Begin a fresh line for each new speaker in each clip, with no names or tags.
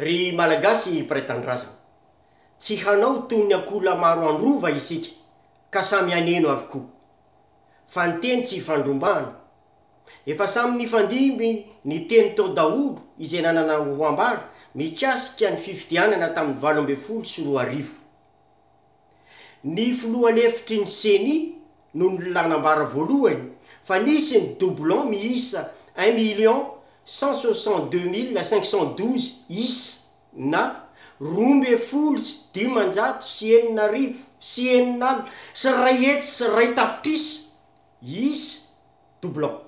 Ry Malagasy mpiray tanindrazana, tsy hanao toy ny ankoholahy maro androva isika ka samy haneno avokoa. Fa ny teny tsy ifandrombahana. Efa samy nifandimby ny teny tao daholo izay nanana ho ambara mikasika ny fifidianana tamin'ny valo ambin'ny folo sy roa arivo. Ny filoha lefitry ny Ceni no nanambara voalohany fa nisy ny doublons miisa un million cent soixante deux mille cinq cent douze isa na roa ambin'ny folo sy dimanjato sy enina arivo sy enina alina sy iray hetsy sy iray tapitrisa isa, doublons.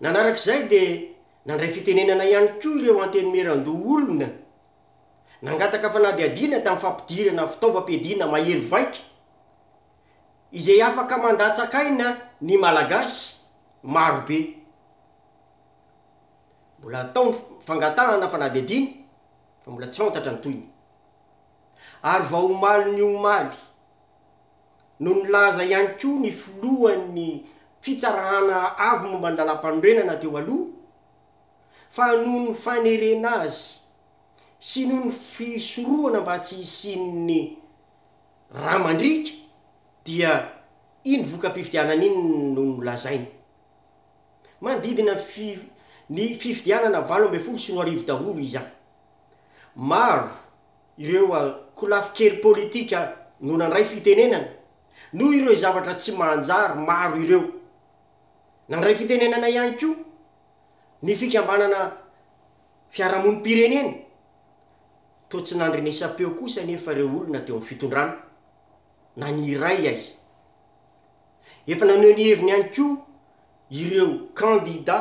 Nanarak'izay dia nandray fitenenana ihany koa ireo antenimieran-doholona Nangataka fanadihadiana tamin'ny fampidirana fitaovam-piadiana mahery vaika izay afaka mandatsak'aina ny Malagasy maro be. Mbola atao ny fangatahana fanadihadiana fa mbola tsy fantatra ny tohiny. Ary vao omaly ny omaly no nilaza ihany koa ny filohan'ny Fitsarana Avo momba ny Lalàmpanorenana teo aloha, fa noho ny fanerena azy sy noho ny fisorohana mba tsy hisian'ny rà mandriaka dia iny voka-pifidianana iny no nolazainy. Manodidina ny fifidianana valo ambin'ny folo sy roa arivo daholo izany. Maro ireo kolafy kely politika no nandray fitenenana noho ireo zavatra tsy manjary maro ireo. Nandray fitenenana ihany koa ny fikambanana fiarahamonim-pirenena. Toa tsy nandrenesam-peo kosa anefa ireo olona teo amin'ny fitondrana, na ny iray aiza. Efa naneho ny heviny ihany koa ireo kandida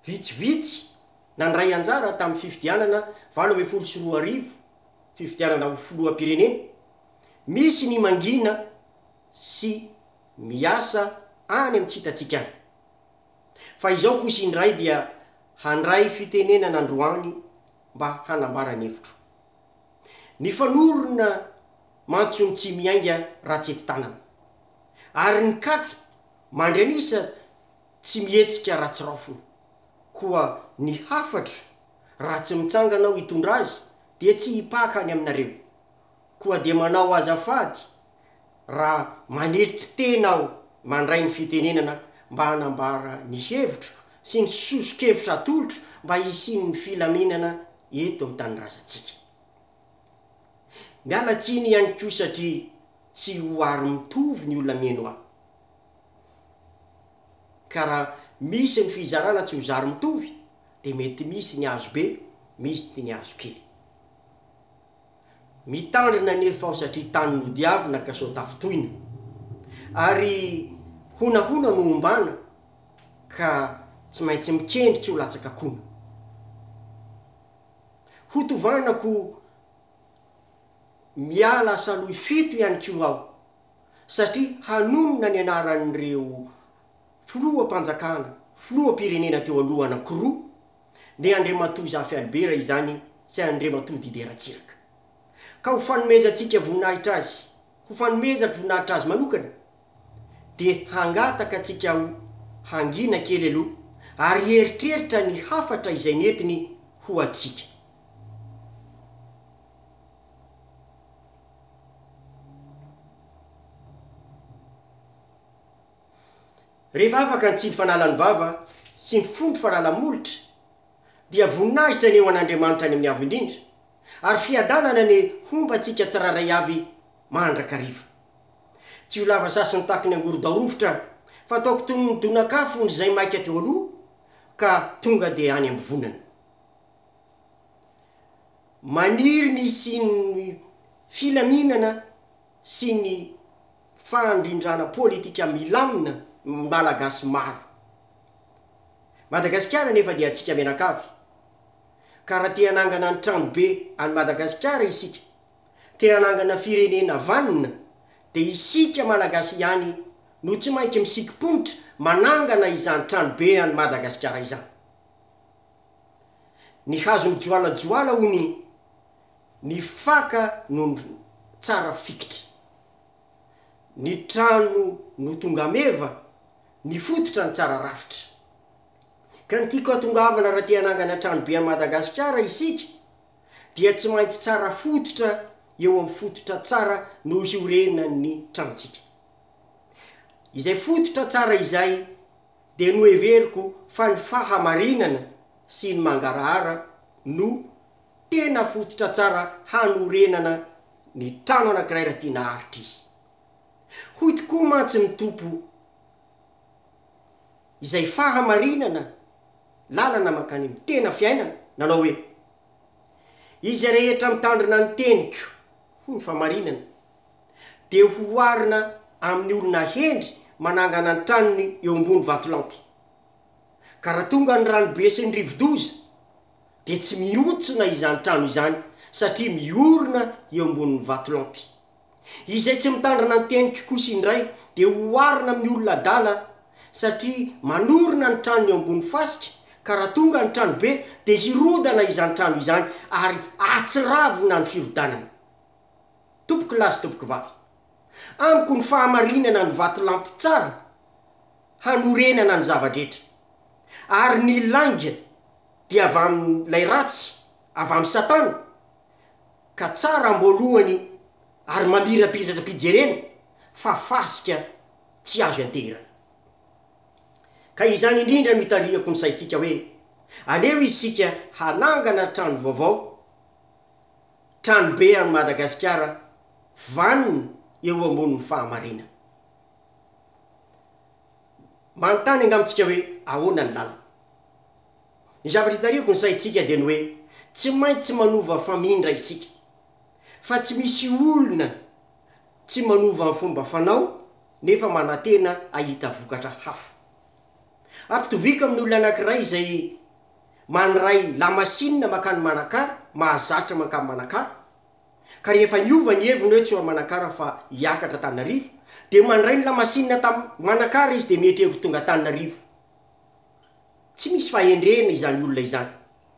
vitsivitsy nandray anjara tamin'ny fifidianana valo ambin'ny folo sy roa arivo, fifidianana ho filoham-pirenena. Misy ny mangina sy. miasa any amin'ny tsy hitantsika any. Fa izao kosa indray dia handray fitenenana androany mba hanambara ny hevitro. Nifanorona mantsy ny tsy miainga raha tsy ety tanana. Ary ny katy mandry an'isa tsy mihetsika raha tsy raofina. Koa ny hafatro raha tsy mitsangana aho hitondra azy dia tsy hipaka any aminareo. Koa dia manao azafady raha manetry tena aho mandray ny fitenenana mba hanambara ny hevitro sy ny soso-kevitra atolotro mba hisian'ny filaminana eto amin'ny tanindrazantsika. Miala tsiny ihany koa satria tsy ho ary mitovy ny olona mihaino ahy. Ka raha misy ny fizarana tsy ho zary mitovy dia mety misy ny azo be, misty ny azo kely. Mitandrina anefa aho satria tany nodiavina ka sao tafintohina. Ary honahona no ombana ka tsy maintsy mikendry tsy ho latsaka kona. Ho tovanako miala asaloy fito ihany koa aho satria hanonona ny anaran'ireo filoham-panjakana, filoham-pirenena teo aloha anankiroa, Dia Andriamatoa Zafy Albert izany sy Andriamatoa Didier Ratsiraka. Ka ho fanomezantsika voninahitra azy, ho fanomezako voninahitra azy manokana, dia hangataka antsika ho hangina kely aloha ary hieritreritra ny hafatra izay nentiny ho antsika. Rehefa afaka ny tsindry fanalan'ny vava sy ny fondro fanala-molotra, dia voninahitra ny eo an'Andriamanitra any amin'ny Avo Indrindra, ary fiadanana ny homba antsika tsirairay avy mandrakariva. Tsy ho lava sasiny tahaka ny angorodao rovitra, fa ataoko toy ny donakafon'ny izay maika teo aloha, ka tonga dia any am-bivonana. Maniry ny hisian'ny filaminana sy ny fandrindrana politika milamina ny Malagasy maro. Madagasikara anefa dia antsika mianakavy, ka raha te hanangana ny tranobe an'i Madagasikara isika, te hanangana firenena vanona, dia isika Malagasy ihany no tsy maintsy misikim-ponitra manangana izany tranobe an'i Madagasikara izany. Ny hazo mijoalajoala hono i. Ny faka no tsara fikitra. Ny trano no tonga meva, ny fototra no tsara rafitra. Ka ny tiako hatongavana raha te hanangana trano be an'i Madagasikara isika dia tsy maintsy tsara fototra eo amin'ny fototra tsara no hiorenan'ny tranontsika. Izay fototra tsara izay dia noheveriko fa ny fahamarinana sy ny mangarahara no Tena fototra tsara hanorenana ny trano anankiray raha tiana haharitra izy. Hoy tokoa mantsy ny Tompo, Izay fahamarinana, lalana mankany amin'ny tena fiainana, nanao hoe, Izy rehetra mitandrina ny teniko, hoy ny fahamarinana, dia hoharina amin'ny olona hendry manangana ny tranony eo ambony vatolampy. Ka raha tonga ny ranobe sy ny rivodoza, dia tsy mihotsona izany trano izany satria miorina eo ambonin'ny vatolampy. Izay tsy mitandrina ny teniko kosa indray dia oharina amin'ny olona adala satria manorina ny tranony eo ambony fasika ka raha tonga ny tranobe dia hirodana izany trano izany ary atsiravina ny firodanana. Tompokolahy sy tompokivavy, amiko ny fahamarinana ny vatolampy tsara, hanorenana ny zava-drehetra. Ary ny lainga dia avy amin'ilay ratsy, avy amin'i Satana, ka tsara am-boalohany ary mamirapiratra-pijerena fa fasika tsy azo ianteherana. Ka izany indrindra no itarihako ny saintsika hoe, aleo isika hanangana trano vaovao, tranobe an'i Madagasikara vanona eo ambonin'ny fahamarinana. Manontany angamba isika hoe ahoana ny lalana? Ny zavatra hitarihako ny saintsika dia ny hoe tsy maintsy manova famindra isika, fa tsy misy olona tsy manova ny fomba fanao nefa manantena hahita vokatra hafa. Ampitoviako amin'ny olona anankiray izay mandray lamasinina mankany Manakara, mahazatra mankany Manakara, ka rehefa niova ny heviny hoe tsy eo Manakara fa hiakatra Antananarivo dia mandray ny lamasinina tam Manakara izy dia mihetrehevy ho tonga Antananarivo. Tsy misy fahendrena izany olona izany,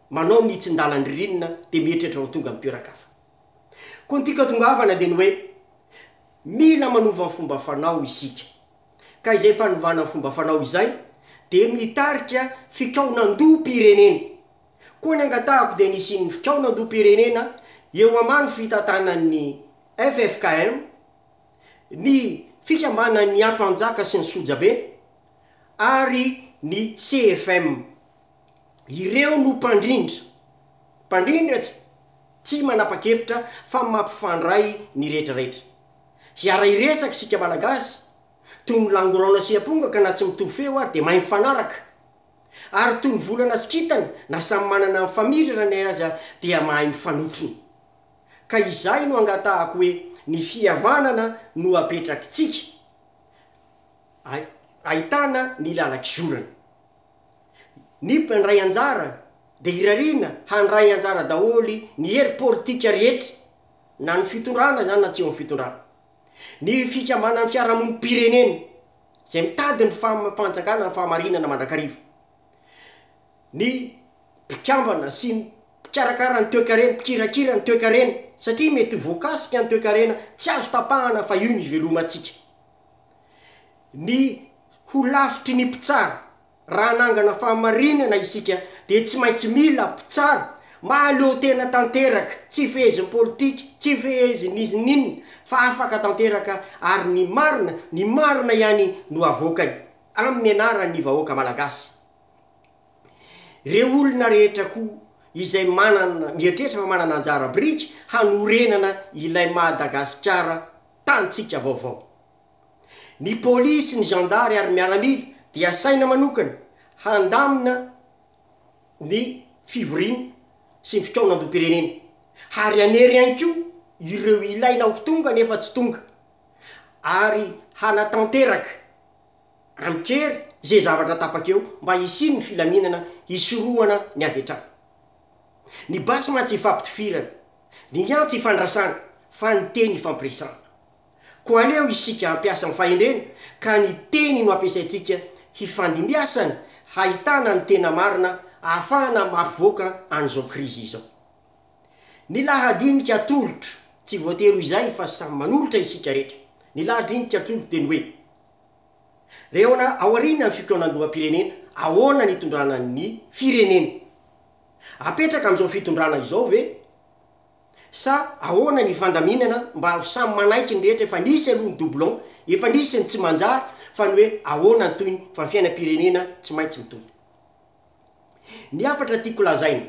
manao ny hitsindalan-dririnina dia mihetrehtra ho tonga mitoeran-kafa. Koa ny tiako atongavana dia ny hoe mila manova ny fomba fanao isika. Ka izay fanovana ny fomba fanao izay dia mitarika fikaonan-doham-pirenena. Koa ny angatahako dia ny hisian'ny fikaonandoham-pirenena eo ambany fitantanan'ny ffkm, ny fikambanan'ny ampanjaka sy ny sojabe ary ny CFM. Ireo no mpandrindra, mpandrindra tsy tsy manapa-kevitra fa mampifandray ny rehetra rehetra. Hiara-hiresaka isika Malagasy, toy ny langorona sy amponga ka na tsy mitovy feo ary dia mahay mifanaraka. Ary toy ny volana sy kintana na samy manana ny famirirany aza dia mahay mifanotrona. Ka izay no angatahako hoe ny fihavanana no apetrakitsika ay ahitana ny lalakizorana. Ny mpandray anjara dia irariana handray anjara daholo ny hery politika rehetra na ny fitondrana izany na tsy eo amin'ny fitondrana. Ny fikambanan'ny fiarahamonim-pirenena izay mitady ny faham- fanjakana amin'ny fahamarinana mandrakariva. Ny mpikambana sy ny mpikarakara ny toekarena, mpikirakira ny toekarena, satria mety ho voakasika ny toekarena tsy azo tapahana fa io no ivelomantsika. Ny ho lafitry ny mpitsara Raha hanangana fahamarinana isika, dia tsy maintsy mila mpitsara mahaleo tena tanteraka, tsy fehezin'ny politika, tsy fehezin'ny izy n'inona, fa afaka tanteraka ary ny marina, ny marina ihany no avoakany, amin'ny anaran'ny vahoaka malagasy. Ireo olona rehetra koa izay manana, mieritreritra fa manana anjara biriky hanorenana ilay Madagasikara tantsika vaovao. Ny polisy, ny zandary ary ny miaramila dia asaina manokana handamina ny fivoriana sy ny fikaonandoham-pirenena ary hanery ihany koa ireo ilaina ho tonga nefa tsy tonga ary hanatanteraka amin-kery izay zavatra tapaka eo mba hisian'ny filaminana hisorohana ny ady an-trano. Ny basy mantsy ifampitifirana, ny antsy ifandrasana fa ny teny ifampiresahana. Koa aleo isika hampiasa ny fahendrena ka ny teny no ampiasaintsika hifandimbiasana hahitana ny tena marina ahafahana mahavoaka an'izao krizy izao. Ny lahadinika atolotro, tsy voatery ho izay fa samy manolotra isika rehetra. Ny lahadinika atolotro dia ny hoe, Reo ao aorianan'ny fikaonandoham-pirenena, ahoana ny itondrana ny firenena? Apetraka amin'izao fitondrana izao ve sa ahoana ny fandaminana mba ho samy manaiky ny rehetra efa nisy aloha ny doublon, efa nisy ny tsy manjary fa ny hoe ahoana ny tohiny fa ny fiainam-pirenena tsy maintsy mitohy. Ny hafatra tiako lazaina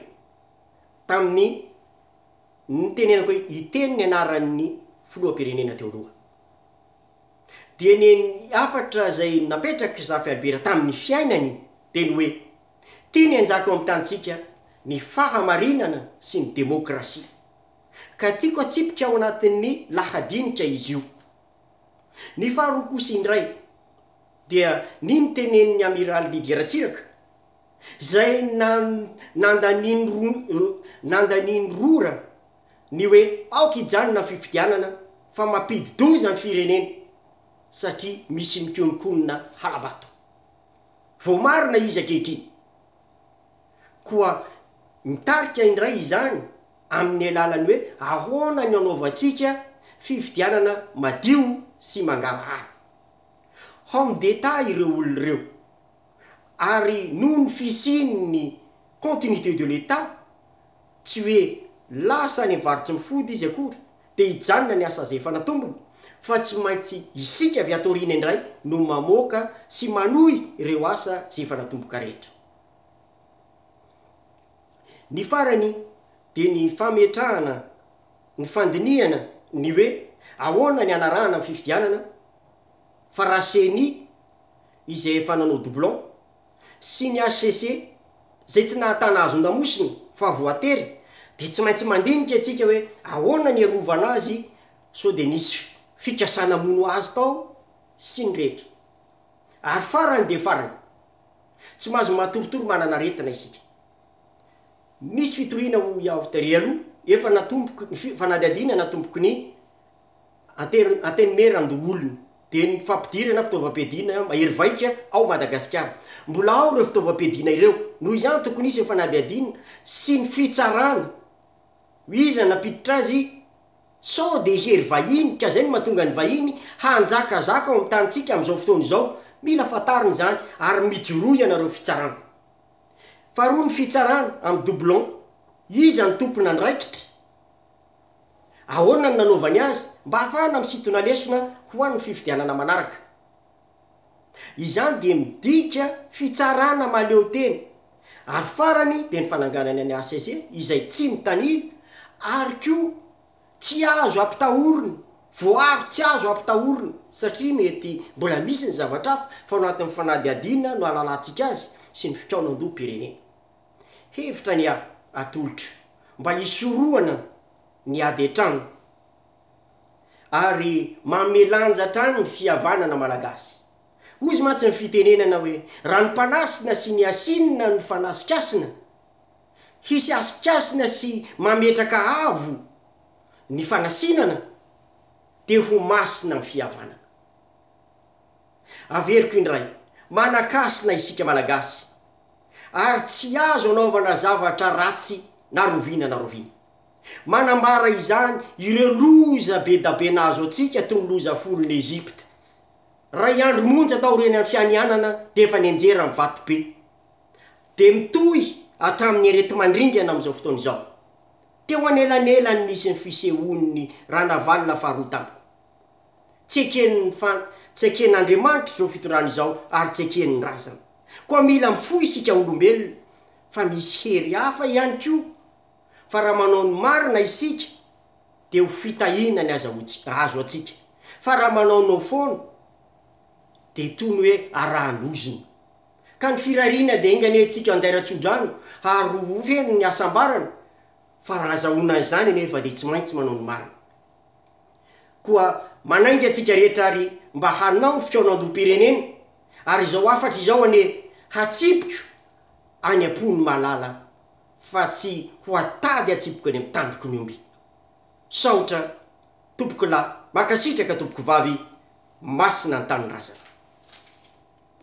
tamin'ny nitenenako hoe hiteny ny anaran'ny filoham-pirenena teo aloha dia ny hafatra izay napetrak'i Zafy Albert tamin'ny fiainany dia ny hoe, Tiany hanjaka ao amin'ny tanintsika ny fahamarinana sy ny demokrasia, ka tiako hatsipika ao anatin'ny lahadinika izy io. Ny faharoa kosa indray dia ny notenenin'ny Amiraly Didier Ratsiraka, izay nandanian'ny rora ny hoe aoka hijanona ny fifidianana fa mampidi-doza ny firenena satria misy mikonokonona hala-bato. Voamarina izy ankehitriny. Koa mitarika indray izany amin'ny alalan'ny hoe ahoana no anaovantsika fifidianana madio sy mangarahara. Homme d'Etat ireo olona ireo, ary noho ny fisian'ny continuité de l'Etat Tsy hoe lasa any vary tsy mifody izy akory dia hijanona ny asa izay efa natombony fa tsy maintsy isika avy ato aoriana indray no mamoaka sy manohy ireo asa izay efa natomboka rehetra. Ny farany dia ny fametrahana ny fandinihana ny hoe ahoana ny hanarahana ny fifidianana fa raha ceni izay efa nanao doublon, sy ny hcc izay tsy nahatana hazon-damosina fa voatery dia tsy maintsy mandinika antsika hoe ahoana ny hiarovana azy sao dia nisy fikasana hamono azy tao sy ny rehetra. Ary farany dia farany, tsy mahazo matoritory manana aretina isika. Misy fitoriana hoy aho tery aloha, efa natomboky ny fanadihadiana natomboky ny Antenimierandoholona, dia ny fampidirana fitaovam-piadiana mahery vaika ao Madagasikara. Mbola ao ireo fitaovam-piadiana ireo, noho izany tokony hisy ny fanadihadiana sy ny fitsarana hoe iza nampiditra azy sao dia hery vahiny ka izay no mahatonga ny vahiny hanjakazaka ao amin'ny tanintsika amin'izao fotoana izao. Mila fantarina izany ary mijoroa ianareo fitsarana. Faharoa ny fitsarana amin'ny doublons, iza no tompon'andraikitra? Ahoana no nanaovany azy mba hahafahana misintona lesona ho an'ny fifidianana manaraka? Izany dia midika fitsarana mahaleo tena, ary farany dia ny fananganana ny hcc izay tsy mitanila ary koa tsy azo ampitahorina, voaro tsy azo ampitahorina satria mety mbola misy ny zavatra hafa fa ao anatin'ny fanadihadiana no ahalalantsika azy sy ny fikaonandoham-pirenena. Hevitra ny ahy atolotro mba hisorohana ny ady hatrany ary manome lanja hatrany ny fihavanana malagasy. Hozy mantsy ny fitenenana hoe raha ny mpanasina sy ny asinina no fanasikasina, hisy asikasina sy mametraka avo ny fanasinana dia ho masina ny fihavanana. Averiko indray, manakasina isika malagasy ary tsy azo anaovana zavatra ratsy na roviana na roviana. Manambara izany ireo loza be da be nahazo antsika toy ny loza folon'i Egypta. Ray andro monja taorian'ny an'i Fianianana dia efa nianjera ny vato be. Dia mitohy hatramin'ny areti-mandringana amin'izao fotoana izao. Teo anelanelany nisy ny fisehoan'ny ranavalona faharoa tamiko. Tsy eken'ny fan, tsy eken'Andriamanitra izao fitondrana izao ary tsy eken'ny razana. Koa mila mifoha isika olombelona fa misy hery hafa ihany koa fa raha manao ny marina isika dia ho fitahiana ny aza ho tsy, azo antsika. Fa raha manao no foana dia toy ny hoe arahan-dozona. Ka ny firariana dia enga anie isika handaira tsodrano ary ho feno ny hasambarana fa raha hazahoana an'izany anefa dia tsy maintsy manao ny marina. Koa manainga antsika rehetra ary mba hanao ny fikaonandoham-pirenena ary izao hafatra izao anie hatsipiko any am-pon'ny malala fa tsy ho atady hatsipiko any amin'ny tandroko ny omby. Saotra tompokolahy, mankasitraka tompokovavy, masina ny tanindrazana.